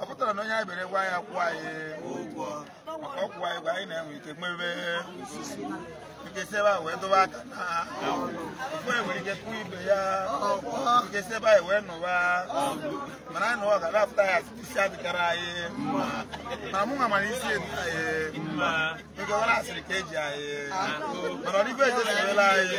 ọ pụtara na onye anyị bere gwa ya kwụọ anyị ụgwọ ọ kwụọ anyị gwa anyị na-enwe ike mebe nkesi ebe a wee dobe aka na ofu anyị nwere ike kụọ ibe ya nkesi ebe anyị wee nụwa mana anyị nụwa ga-apụta ya isi adịkara anyị na mụ nwa mana isi edu anyị nke ọ na-asịrị ka eji anyị mana ọ dịbe ejeziela anyị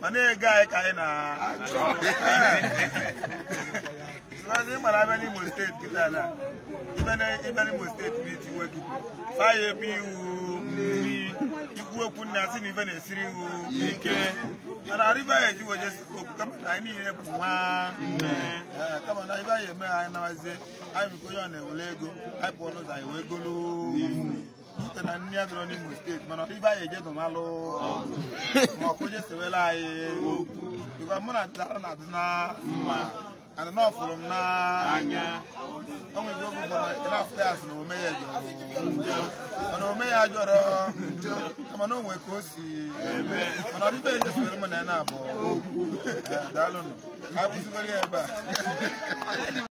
ma na-ege anyị ka anyị na-achọ So ị mara abịa n'Imo steeti kịta na ịbịa na- ịbịa n'Imo steeti bụ iti nwoke faya ebe iwu mmiri ikwu okwu nna si na ife na-esiri iwu ike mana arịba ya eji weje okwu kama na anyị niile bụ nwa nne Ee, kama na ibe anyị eme anyị nabazie anyị biko onye ọ na-ewere ego anyị pụọ n'ụzọ anyị wee golu Ute na nne ya dọrọ n'Imo steeti mana ibe anyị eje dụmalụ ma ọkụ je sewela anyị bikwa mụ na dara na adị na mma ana na ọ fụrụ m n'anya o nwere oge ụfọdụ ị na-afụ ya asị na ome ya jọrọ njọ mana ome ya ajọrọ njọ kama na o nwee ka o si eme mana ọdịbe eje sewere mụ na ya na-abụ daalụnụ ka a kwụsịgoro ya ebe a